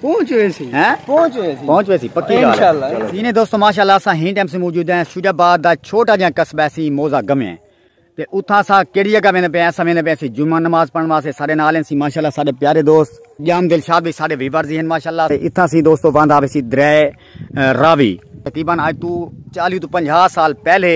پہنچ ہوئے سی ہیں پہنچ ہوئے سی پہنچ ہوئے سی پکی گال انشاءاللہ سینے دوستو ماشاءاللہ اسا ہی ٹائم سے موجود ہیں سوجا باد دا چھوٹا جہاں قصبہ سی موزہ گمے ہیں تے اتھا سا کیڑی جگہ ویندے پے ایسا ویندے پے سی جمعہ نماز پڑھن واسطے سارے نال ہیں سی ماشاءاللہ سارے پیارے دوست جام دلشاد بھی سارے ویورز ہیں ماشاءاللہ اتھا سی دوستو واندا بھی سی درے راوی، تقریبا اج توں چالیہہ توں پنجاہ سال پہلے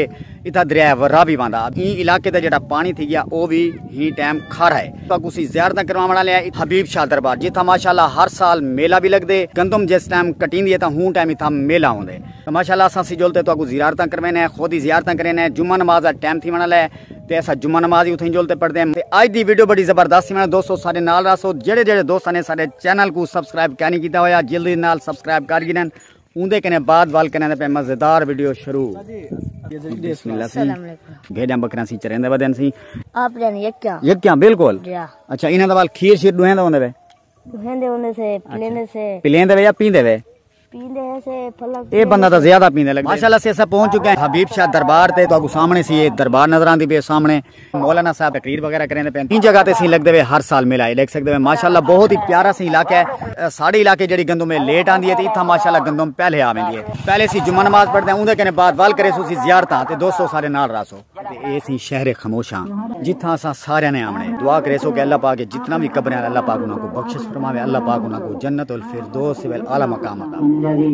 اتھاں دریا راوی وہندا ہا۔ ایں علاقے دا جیڑھا پاݨی تھی ڳیا او وی ہی ٹائم کھارا ہے۔ اتھاں کسیں زیارتاں کرواوݨ آلے ہن۔ حبیب شاہ دربار جتھاں ماشاءاللہ ہر سال میلہ وی لڳدے۔ گندم جس ٹائم کٹیندی ہے تاں ہوں ٹائم اتھاں میلہ ہوندے۔ ماشاءاللہ اساں سجول تے تہاکوں زیارتاں کرویندے ہیں۔ خود ہی زیارتاں کریندے ہیں۔ جمعہ نماز دا ٹائم تھیوݨ آلا ہے۔ تے اسا جمعہ نماز ہی اتھیں جول تے پڑھدے ہیں تے آج دی ویڈیو بڑی زبردست سی میں دوستو سارے نال راسو جڑے جڑے دوستاں نے سارے چینل کو سبسکرائب کینی کیتا ہویا جلدی نال سبسکرائب کر گنن اوندے کنے بعد وال کنے تے پہ مزیدار ویڈیو شروع بسم اللہ سی بھیڑیاں بکریاں سی چریندے ودن سی آپ جان یکیاں یکیاں بالکل اچھا انہاں دا وال کھیر شیر دوہن دا ہوندے وے بہندے ہوندے سے پلیندے سے پلیندے وے یا پیندے وے پیندے ہیں سے پھلک اے بندہ تا زیادہ پیندے لگے ماشاءاللہ سے سب پہنچ چکے ہیں حبیب شاہ دربار تے تو اگو سامنے سی یہ دربار نظر آندی پہ سامنے مولانا صاحب تقریر وغیرہ کریں دے پہ تین جگہ تے سی لگ دے وے ہر سال ملا ہے لگ سکتے وے ماشاءاللہ بہت ہی پیارا سی علاقہ ہے ساڑی علاقے جڑی گندوں میں لیٹ آندی ہے تے اتھا ماشاءاللہ گندوں پہلے آویں دی ہے پہلے سی جمعہ نماز پڑھ دے ہیں اندھے کنے بعد وال کرے سو سی زیارتہ تے دوستو سارے نال راسو تے اے سی شہر خموشاں جتھاں اساں ساریاں نے آوݨے ہے دعا کریسو کہ اللہ پاک جتنا وی قبراں اللہ پاک انہاں کوں بخشش فرماوے اللہ پاک انہاں کوں جنت الفردوس الاعلی مقام عطا فرماوے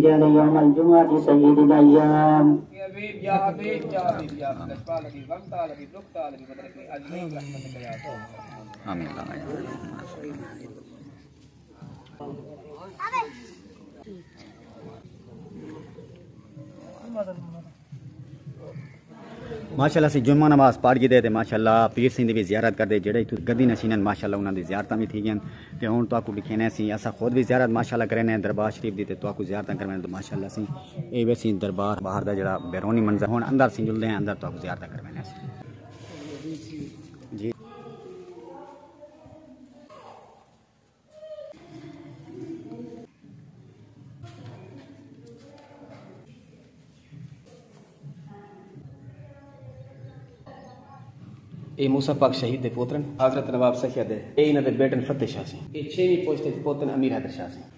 آمین ماشاءاللہ سی جمعہ نماز پڑھ گئے تے ماشاءاللہ پیر سنگھ دی بھی زیارت کردے جڑے اتھوں گدی نشینن ماشاءاللہ انہاں دی زیارتاں بھی تھی گئن تے ہن تو اکو لکھینے سی اسا خود بھی زیارت ماشاءاللہ کرینے دربار شریف دی تے تو اکو زیارتاں کرنے تو ماشاءاللہ سی اے وے سی دربار باہر دا جڑا بیرونی منظر ہن اندر سی جلدے ہیں اندر تو اکو زیارتاں کرنے سی اے موسی پاک شہید دے پوترن حضرت نواب سخیا دے اے انہاں دے بیٹن فتح شاہ سیں اے چھیویں پوچھ تے پوتن امیر حیدر شاہ سیں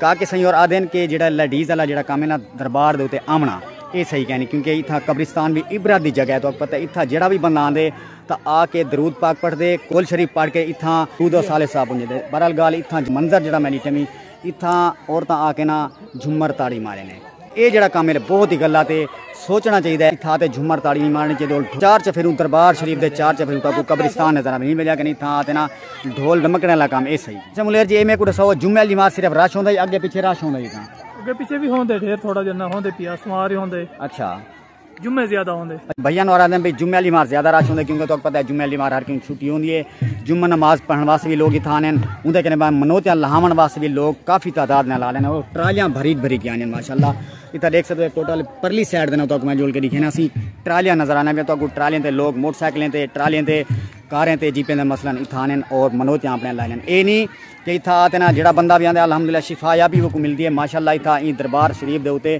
کاکے سئیں ہور آہدن کہ جیڑھا لیڈیز آلا جیڑھا کم ہے نا دربار دے اتے آونا اے صحیح کینی کیونکہ اتھاں قبرستان وی عبرت دی جگہ ہے تہاکوں پتہ ہے اتھاں جیڑھا وی بندہ آندے تاں آ کے درود پاک پڑھ دے کول شریف پڑھ کے اتھاں درود و صالح صاحب ونجے دے بہرحال گالھ اتھاں منظر جیڑھا میں ڈٹھے می اتھاں عورتاں آ کے نا جھمر تاڑی مارے نے۔ اے جیڑھا کم ہے بہت ای گلا تے سوچنا چاہیدا ہے اتھاں تے جھمر تاڑی نی مارنی چاہیدی ڈھول چار چفیروں دربار شریف دے چار چفیروں تاں کوئی قبرستان نظر آوے نی ویلیا کہ نی تھاں تے نا ڈھول ڈمکنے والا کم اے سہی اچھا ملیر جی اے میکوں ڈساؤ جمعے آلی نماز صرف رش ہوندا ہے یا اگے پیچھے رش ہوندا ہے اتھاں اگے پیچھے وی ہوندے ڈھیر تھوڑا جنہ ہوندے پیاس مار ہی ہوندے اچھا۔ جمعے زیادہ ہوندے۔ بھائی انور آدم بھائی جمعے علی مار زیادہ راش ہوندے کیونکہ تو پتہ ہے جمعے علی مار ہر کیوں چھٹی ہوندی ہے جمعہ نماز پڑھن واسطے بھی لوگ ہی تھا نین اون دے کنے منوتیاں لہاون واسطے بھی لوگ کافی تعداد نال آ لین اور ٹرالیاں بھری بھری گیاں نین ماشاءاللہ اتا دیکھ سکتے ہیں ٹوٹل پرلی سائیڈ دے نو تو میں جول کے دکھینا سی ٹرالیاں نظر آنے میں تو اگو ٹرالیاں تے لوگ موٹر سائیکلیں تے ٹرالیاں تے کاریں تے جیپیں دے مثلا اتھا نین اور منوتیاں اپنے لائیں نین اے نہیں کہ اتھا آتے نا جڑا بندہ بھی آندے الحمدللہ شفا یا بھی وہ کو مل دیئے ماشاءاللہ اتھا این دربار شریف دے ہوتے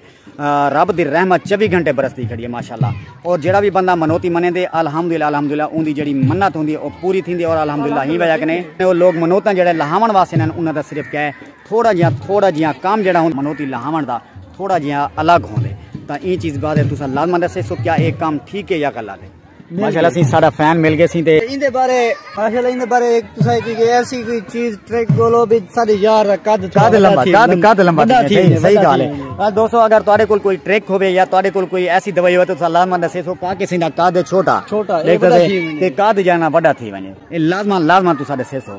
رب دی رحمت چوی گھنٹے برسدی کھڑی ہے ماشاءاللہ اور جیڑا بھی بندہ منوتی منے دے الحمدللہ الحمدللہ اون دی جیڑی منت ہوندی ہے او پوری تھیندی ہے اور الحمدللہ ہی وجہ کنے او لوگ منوتاں جیڑے لہاون واسطے نن انہاں دا صرف کہے تھوڑا جیاں تھوڑا جیاں کام جیڑا ہن منوتی لہاون دا تھوڑا جیاں الگ ہوندے تاں ایں چیز بارے تساں لازمن دسے سو کیا اے کام ٹھیک ہے یا غلط ہے ماشاءاللہ سی سارا فین مل گئے سی تے ایندے بارے ماشاءاللہ ایندے بارے ایک تسا کی کہ ایسی کوئی چیز ٹریک بولو بھی سارے یار دا قد قد لمبا قد قد لمبا تھی صحیح گال ہے دوستو اگر تواڈے کول کوئی ٹریک ہوے یا تواڈے کول کوئی ایسی دوائی ہوے تو تسا لازما دسے سو پاکے سی دا قد چھوٹا چھوٹا دیکھ تے قد جانا بڑا تھی ونجے اے لازما لازما تسا دسے سو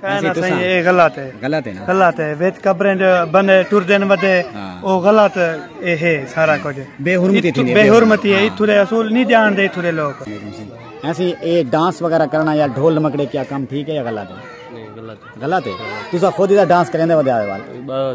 کہنا سائیں اے غلط ہے غلط ہے غلط ہے وچ قبریں جو بندے ٹر دین ودے ہاں۔ او غلط اے ہے سارا ہاں۔ کچھ بے حرمتی تھی بے حرمتی ہے ہاں۔ اتھو دے اصول نہیں جان دے اتھو دے لوگ ایسی اے ڈانس وغیرہ کرنا یا ڈھول مکڑے کیا کام ٹھیک ہے یا غلط ہے غلط ہے تسا خود ہی ڈانس کریندے ودے آئے وال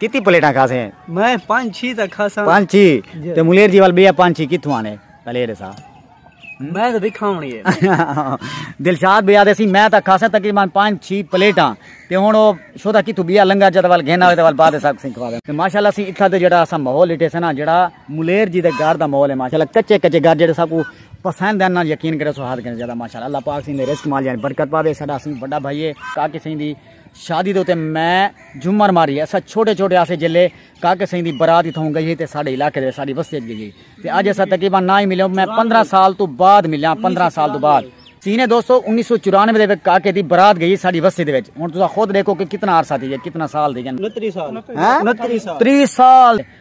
کتی پلیٹاں کھا سیں میں پانچ چھی تک کھا ساں پانچ چھی تے ملیر جی وال بیا پانچ چھی کتھوں آنے پلیٹ سا میں تے دکھا ہونی ہے دلشاد بیا دے سی میں تک کھا سیں تقریبا پانچ چھی پلیٹاں تے ہن او شودا کتھوں بیا لنگا جے وال گھن آوے تے وال بعد سا سن کھوا دے ماشاءاللہ سی اتھا تے جڑا اسا ماحول اٹھے سنا جڑا ملیر جی دے گھر دا ماحول ہے ماشاءاللہ کچے کچے گھر جڑے سا کو پسند ہے نا یقین کرے سو ہاتھ کرے زیادہ ماشاءاللہ اللہ پاک سی دے رزق مال یعنی برکت پاوے سدا سی بڑا بھائی ہے کا کسے دی شادی دے اتے میں جھمر ماری اساں چھوٹے چھوٹے ہاسے جیلے کاکے سئیں دی برات اتھاؤں گئی ہئی تے ساڈے علاقے دے ساڈی وستی اچ گئی ہئی تے اج اساں تقریبا نہ ہی ملیوں میں پندرہ سال توں بعد ملیاں پندرہ سال توں بعد سینے دوستو انیس سو چورانوے دے وچ کاکے دی برات گئی ہئی ساڈی وستی دے وچ ہن تساں خود ڈیکھو کہ کتنا عرصہ تھی گیا کتنا سال تھی گن انتری سال انتری سال تری سال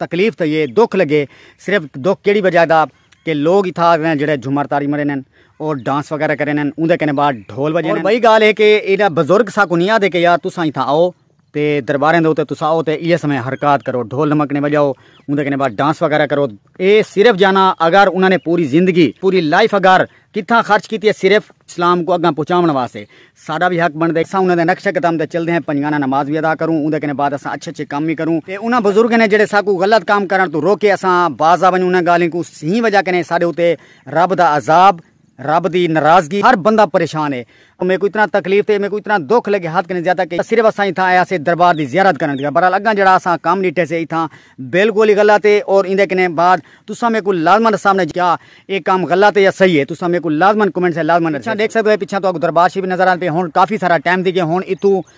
تکلیف تئ اے دکھ لگے صرف دکھ کیڑی وجہ دا کہ لوگ اتھا آگئے جیڑھے جھمر تاری مرے نین اور ڈانس وغیرہ کرے نین اوندے کنے بعد ڈھول وجے نین اور بئی گال اے کہ ایڈا بزرگ ساکوں نی آدھے کہ یار تساں اتھا آؤ تے درباریں دے اتے تساں آؤ تے ایس میں حرکات کرو ڈھول دھمکنے وجاؤ اوندے کنے بعد ڈانس وغیرہ کرو اے صرف جانا اگر انہاں نے پوری زندگی پوری لائف اگر کتھاں خرچ کیتی ہے صرف اسلام کوں اگاں پہنچاوݨ واسطے ساڈا وی حق بݨدے اساں انہاں دے نقشہ قدم تے چلدے ہیں پنجگانہ نماز وی ادا کروں اوندے کنے بعد اساں اچھے اچھے کم وی کروں تے انہاں بزرگیں نے جیڑھے ساکوں غلط کم کرݨ توں روکے اساں باز آونج انہاں گالھیں کوں سہیں وجہ کنے ساڈے اتے رب دا عذاب رب دی ناراضگی ہر بندہ پریشان ہے او میکوں اتنا تکلیف تے میکوں اتنا دکھ لگے حد کنیں زیادہ کہ صرف اساں اتھاں آئے ہسے دربار دی زیارت کرن دی بہرحال اگاں جیڑھا اساں کم ڈیٹھے سے اتھاں بالکل ہی غلط ہے اور ایندے کنیں بعد تساں میکوں لازما ڈساں بنے کیا اے کم غلط ہے یا صحیح ہے تساں میکوں لازما کمنٹس اچ لازما ڈساں ڈیکھ سکدے ہو پچھاں تہاکوں دربار شریف نظر آندے پئے ہن کافی سارا ٹائم تھی گیا ہن اتھوں